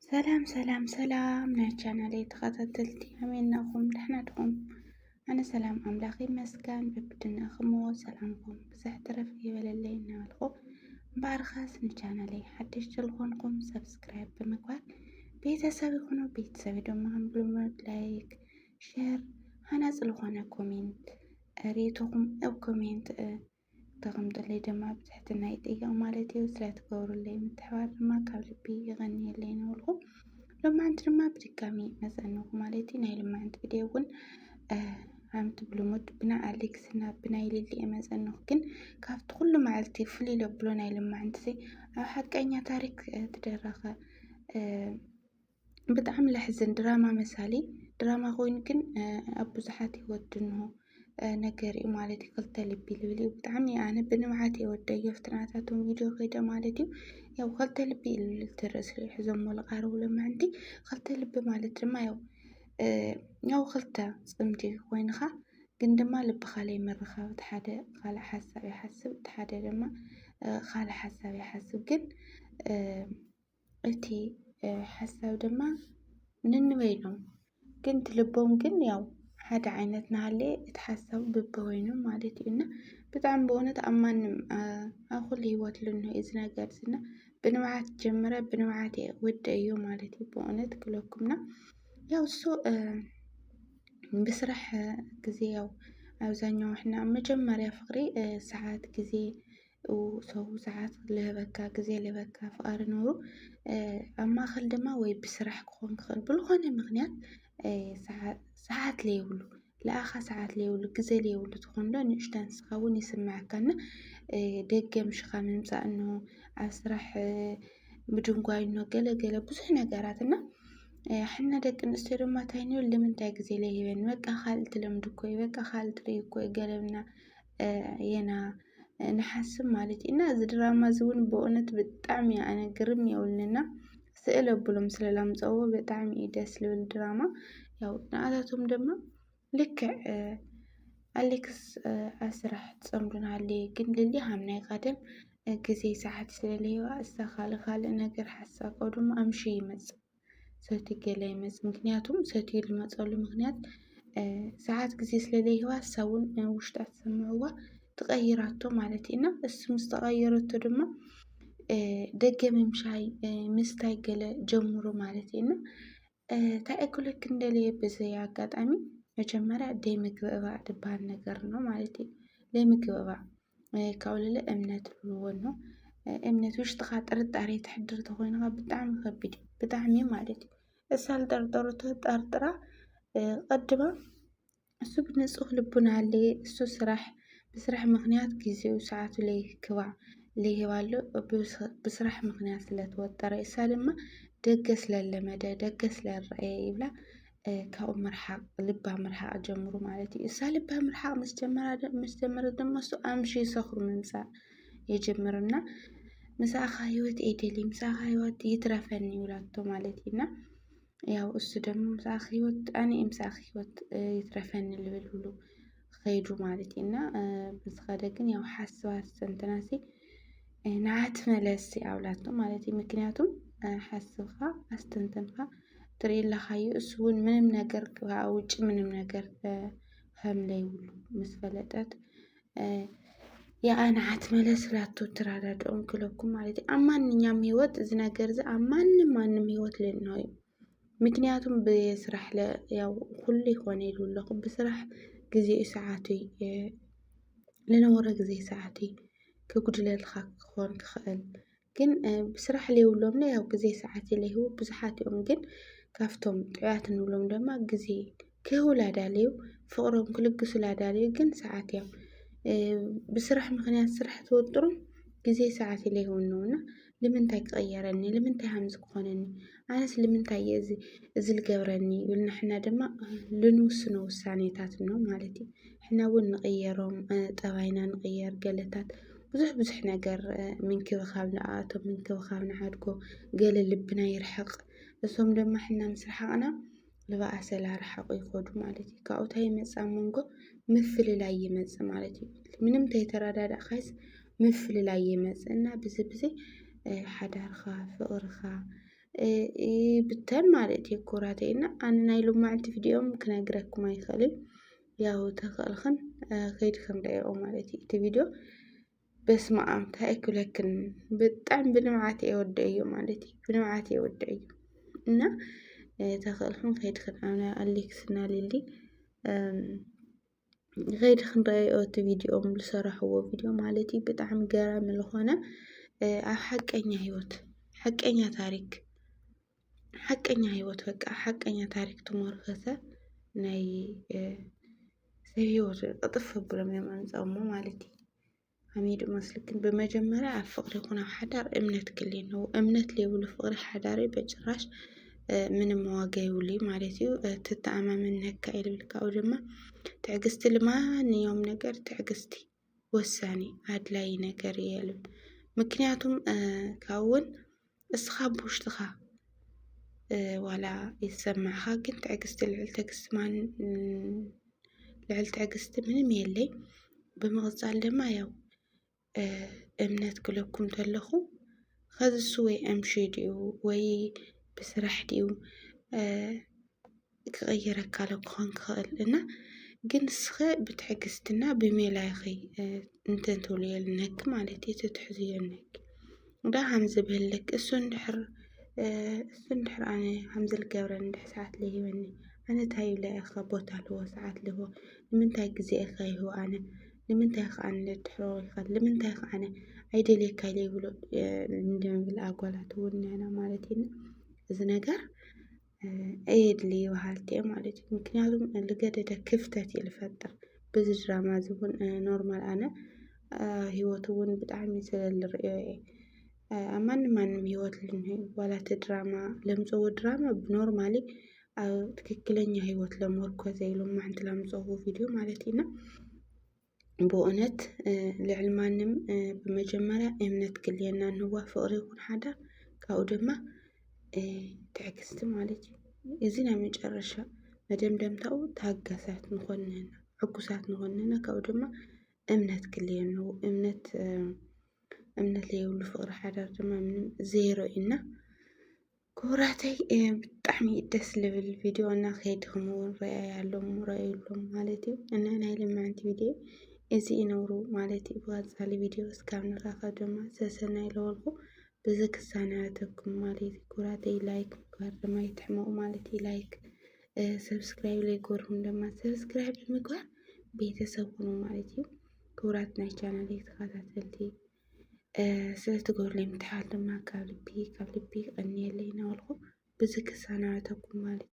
ሰላም ሰላም ሰላም ናይ ቻናለይ ተኸታተልቲ ኣሜናኹም ደሕና ድኹም? ኣነ ሰላም ኣምላኽ ይመስገን በብድናኹም ሰላምኩም ብዝሕ ትረፍ ይበለለይ እናበልኩ እምበኣርኻስ ንቻናለይ ሓድሽ ዝኾንኩም ሰብስክራይብ ብምግባር ቤተሰብ ይኹኑ ቤተሰብ ድማ ብሉመድ ላይክ ሸር ሃናፅ ዝኾነ ኮሜንት ሬቶኹም ኣብ ኮሜንት ተቅምጡለይ ድማ ብትሕትና ይጥየቅ ማለት እዩ ስለትገብሩለይ ምትሕባር ድማ ካብ ልቢ ይቀንየለይ ንበልኩ ሎማዓንቲ ድማ ብድጋሚ መፀንኹ ማለት እዩ ናይ ልማዓንቲ ቪድዮ እውን ከምቲ ብልሙድ ብናይ ኣሌክስ እና ብናይ ሊሊ መፀንኹ ግን ካብቲ ኩሉ መዓልቲ ፍልይ ለብሎ ናይ ልማዓንቲ ኣብ ሓቀኛ ታሪክ ትደረኸ ብጣዕሚ ለሕዝን ድራማ መሳሊ ድራማ ኮይኑ ግን ኣብ ብዙሓት ሂወት ድንሆ ነገር እዩ ማለት እዩ ክልተ ልቢ ልብል እዩ ብጣዕሚ ኣነ ብንብዓት እየ ወደዮ ኣብቲ ናታቶም ቪድዮ ከይደ ማለት እዩ ያው ክልተ ልቢ ልብል እቲ ርእሲ ሒዞሞ ዝቐርቡ ልምዕንቲ ክልተ ልቢ ማለት ድማ ያው ያው ክልተ ፅምዲ ኮይንኻ ግን ድማ ልብኻ ለይምርኻብ እቲ ሓደ ካልእ ሓሳብ ይሓስብ እቲ ሓደ ድማ ካልእ ሓሳብ ይሓስብ ግን እቲ ሓሳብ ድማ ንንበይኖም ግን ትልቦም ግን ያው ሓደ ዓይነት ናሃለየ እቲ ሓሳብ ብብወይኑ ማለት እዩ እና ብጣዕሚ በእውነት ኣብ ማንም ኣብ ኩሉ ህይወት ልንሆ እዚ ነገር እና ብንብዓት ጀምረ ብንብዓት ወደ እዩ ማለት እዩ በእውነት ክለኩምና ያው እሱ ብስራሕ ጊዜ ያው ኣብዛኛው ሕና መጀመርያ ፍቅሪ ሰዓት ጊዜ ሰው ሰዓት ልህበካ ግዜ ልህበካ ፍቓሪ ኖሩ ኣብ ማእኸል ድማ ወይ ብስራሕ ክኾን ክኽእል ብልኾነ ምኽንያት ሰዓት ለይብሉ ለኣኻ ሰዓት ለይብሉ ግዘ ለይብሉ ትኾን ዶ ንእሽቶ ንስኻ ውን ይስመዐካ እና ደገ ምሽኻ ምምፃእ እኖ ኣብ ስራሕ ምድንጓይ እኖ ገለ ገለ ብዙሕ ነገራት እና ሕና ደቂ ኣንስትዮ ድማ ታይ ንብል ንምንታይ ግዜ ለይህበኒ በቃ ካልእ ትለምዲ እኮ እዩ በቃ ካልእ ትሪኢ እኮ እዩ ገለ እልና የና። ንሓስብ ማለት ኢና እዚ ድራማ እዚ እውን ብእውነት ብጣዕሚ እዩ ኣነ ግርም የብልንና ስእል ኣብሎም ስለ ላምፀዎ ብጣዕሚ እዩ ደስ ልብል ድራማ ያው ንኣታቶም ድማ ልክዕ ኣሌክስ ኣስራሕ ፀምዱን ሃለየ ግን ልሊ ሃም ናይ ቀደም ግዜ ሰዓት ስለለየዋ እሳ ካልእ ካልእ ነገር ሓሳብ ድማ ኣምሽ ይመፅእ ሰትዩ ገለ ይመጽእ ምክንያቱም ሰትዩ ዝመጸሉ ምክንያት ሰዓት ግዜ ስለ ዘይህባ ንሳ ውን ውሽጣ ተሰሚዕዋ ትቐይራቶ ማለት እዩ እና እሱ ምስ ተቐየረቶ ድማ ደገ ምምሻይ ምስታይ ገለ ጀምሩ ማለት እዩ እና እንታይ እክለክ እንደለየ ብዘይ ኣጋጣሚ መጀመርያ ደይ ምግብእባእ ድበሃል ነገር ነው ማለት እዩ ደይ ምግብእባእ ካብኡ ልዕሊ እምነት እብልዎ ኣሎ እምነት ውሽጥኻ ጥርጣሬ ተሕድር እንተኾይኑ ኻዓ ብጣዕሚ ከቢድ እዩ ብጣዕሚ ማለት እዩ እሳ ልጠርጠረቶ ጠርጥራ ቐድማ እሱ ብንፁህ ልቡና ለይ እሱ ስራሕ ብስራሕ ምኽንያት ጊዜኡ ሰዓቱ ለይክባዕ ለይህባ ኣሎ ብስራሕ ምኽንያት ስለተወጠረ እሳ ድማ ደገ ስለለመደ ደገ ስለረኣየ ይብላ ካብኡ ምርሓቕ ልባም ምርሓቕ ጀምሩ ማለት እዩ። እሳ ልባም ምርሓቕ ምስ ጀመረት ድማ እሱ ኣምሽ ይሰኽሩ ምምፃእ የጀምርና ምሳኻ ህይወት ኤደሊ ምሳኻ ህይወት ይትረፈኒ ይብላቶ ማለት እዩና ያው እሱ ደግሞ ምሳኻ ህይወት ኣነ ምሳኻ ህይወት ይትረፈኒ ልብል ብሉ ኸይዱ ማለት እዩ እና ብዝኸደ ግን ያው ሓስባ ሰንትናሲ ንዓት መለሲ ኣብላቶ ማለት እዩ ምክንያቱም ሓስብኻ ኣስተንተንካ ትርኢ ኣለኻዩ እሱ እውን ምንም ነገር ክዓ ውጭ ምንም ነገር ከምለይብሉ ምስ ፈለጠት ያኣ ንዓት መለስ ላቶ ትራዳድኦም ክለኩም ማለት እዩ ኣብ ማንኛውም ህይወት እዚ ነገር እዚ ኣብ ማንም ማንም ህይወት ልናዩ ምክንያቱም ብስራሕ ያው ኩሉ ይኾነ ኢሉ ኣለኹ ብስራሕ ግዜኡ ሰዓቱይ ልነበሮ ግዜ ሰዓቱይ ክጉድለልካ ክኾን ክኽእል ግን ብስራሕ ለይብሎምለ ያው ግዜ ሰዓት ለይህቡ ብዙሓት እዮም ግን ካፍቶም ጥዑያት ንብሎም ድማ ግዜ ክህቡላ ዳልዩ ፍቕሮም ክልግሱላ ዳልዩ ግን ሰዓት ያው ብስራሕ ምክንያት ስራሕ ተወጥሮም ግዜ ሰዓት ኢለ ይውንውና ልምንታይ ክቐየረኒ ልምንታይ ሃምዚ ክኾነኒ ኣነስ ልምንታይ እየ እዚ እዚ ልገብረኒ ይብልና ሕና ድማ ልንውስኖ ውሳኔታት እኖ ማለት እዩ ሕና እውን ንቕየሮም ጠባይና ንቕየር ገለታት ብዙሕ ብዙሕ ነገር ምንክብኻብ ንኣቶም ምንክብኻብ ንዓድጎ ገለ ልብና ይርሕቕ እሶም ድማ ሕና ምስ ረሓቕና ንባኣሰላ ርሓቑ ይኸዱ ማለት እዩ። ካብኡ እንታይ ይመጽእ ኣብ መንጎ ምፍልላይ ይመጽእ ማለት እዩ። ምንም ተይተረዳዳእካስ ምፍልላይ ይመጽእ እና ብዚ ብዚ ሓዳርኻ ፍቕርኻ ይብተን ማለት እዩ ኩራተይ እና ኣነ ናይ ሎማዕንቲ ቪድዮም ክነግረኩም ኣይኽእልን ያው ተኽእልኽን ከይድክን ርኣየኦ ማለት እዩ እቲ ቪድዮ በስመኣም ታይ ክብለክን ብጣዕሚ ብንብዓት እየ ወደዮ ማለት እዩ ብንብዓት እየ ወደዮ እና ተኽእልኩም ከይዲ ክንኣምና ኣሌክስ እና ሊሊ ከይዲ ክንረኣዮ እቲ ቪድዮ ዝሰራሕዎ ቪድዮ ማለት እዩ ብጣዕሚ ገራሚ ዝኾነ ኣብ ሓቀኛ ህይወት ሓቀኛ ታሪክ ሓቀኛ ሂወት በቃ ሓቀኛ ታሪክ ትሞርኸሰ ናይ ሰብ ሂወት ቅጥፍ ኣብሎም እዮም ኣምጸሞ ማለት እዩ ኣሚዱ መስልክን ብመጀመርያ ኣብ ፍቅሪ ይኹን ኣብ ሓዳር እምነት ክል ነው እምነት ለይብሉ ፍቅሪ ሓዳሪ በጭራሽ ምንም ዋጋ ይብሉ ማለት እዩ ትተኣማመን ነካ ኢልብልካኡ ድማ ትዕግስቲ ልማንዮም ነገር ትዕግስቲ ወሳኒ ኣድላዪ ነገር እየ ልብል ምክንያቱም ካብኡ እውን እስኻ ብውሽጥኻ ዋላ ይሰማዕኻ ግን ትዕግስቲ ልዕሊ ትዕግስቲ ማን ልዕሊ ትዕግስቲ ምንም የለይ ብምቕፃል ድማ ያው እምነት ክለኩም ተለኹ ኸዚ እሱ ወይ ዕምሺ ድዩ ወይ ብስራሕ ድዩ ክቕይረካ ኣሎ ክኾን ክኽእል እና ግን ንስኸ ብትዕግስትና ብሜላ ኢኺ እንትን ትብልዮ ልነኪ ማለት እዩ ትትሕዝዮ ልነኪ እንዳ ሃምዚ ብህልክ እሱ እንድሕር እሱ እንድሕር ኣነ ሃምዚ ልገብረን እንድሕ ሰዓት ለሂበኒ ኣነ እንታይ ኢለ ኢኸ ቦታ ልህቦ ሰዓት ልህቦ ንምንታይ ግዜ ኢኸ ይህቦ ኣነ ንምንታይ ኢኸ ኣነ ልድሕሮ ኢኸ ንምንታይ ኢኸ ኣነ ኣይደልየካ ኢለ ይብሎ እንደምብል ኣጓላት እውን ንሕና ማለት እዩ እዚ ነገር እየድሊ በሃልቲ እየ ማለት እዩ ምክንያቱም ልገደደ ክፍተት እዩ ልፈጥር ብዚ ድራማ እዚ እውን ኖርማል ኣነ ሂወት እውን ብጣዕሚ ስለ ልርእዮ እየ ኣብ ማንም ማንም ሂወት ዋላ እቲ ድራማ ለምፀዎ ድራማ ብኖርማሊ ኣብ ትክክለኛ ሂወት ለመርኮሰ ኢሎም ማዓንቲ ላምፀእዎ ቪድዮ ማለት እዩ እና ብኡነት ልዕሊ ማንም ብመጀመርያ እምነት ክልየና ንዋ ፍቕሪ ይኹን ሓዳር ካብኡ ድማ ትዕግስቲ ማለት እዩ። እዚ ናይ መጨረሻ መደምደምታኡ ታጋሳት ንኾን ንህና ዕጉሳት ንኾን ንህና ካብኡ ድማ እምነት ክልየኑ እምነት እምነት ለየብሉ ፍቕሪ ሓዳር ድማ ምንም ዜሮ እዩና ክቡራተይ ብጣዕሚ ደስ ልብል ቪድዮ እና ከይድኹም እውን ረኣያሎም ረኣዩሎም ማለት እዩ እና ናይ ልምዕንቲ ቪድዮ እዚ ይነብሩ ማለት እዩ ብቀፃሊ ቪድዮ እስካብ ንራኸብ ድማ ሰሰናይ ለወልኩ ብዚ ክሳናተኩም ማለት እዩ ክቡራተይ ላይክ ምግባር ድማ ይትሕመቑ ማለት እዩ ላይክ ሰብስክራይብ ለይገርኩም ድማ ሰብስክራይብ ምግባር ቤተሰብ ሁኑ ማለት እዩ ክቡራት ናይ ቻናል ተኸታተልቲ ስለትገብርለይ ምትሓት ድማ ካብ ልቢ ካብ ልቢ ይቐንየለይ እናበልኩ ብዚ ክሰናበተኩም ማለት እዩ።